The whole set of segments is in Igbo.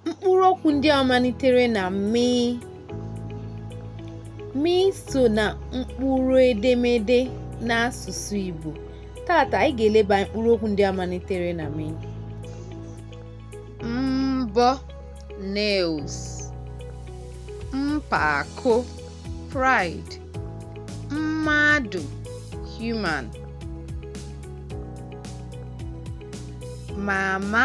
mkpụrụ okwu ndị a malitere na mi mi so na mkpụrụ edemede n'asụsụ Igbo tata anyị ga-eleba anya mkpụrụ okwu ndị a malitere na mi mbọ nails mpako pride mmadụ human mama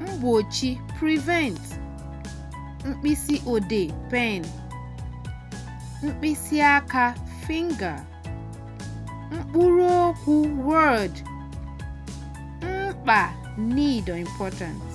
mgbochi prevent mkpịsị odee pen mkpịsị aka finger mkpụrụ okwu word mkpa need or importance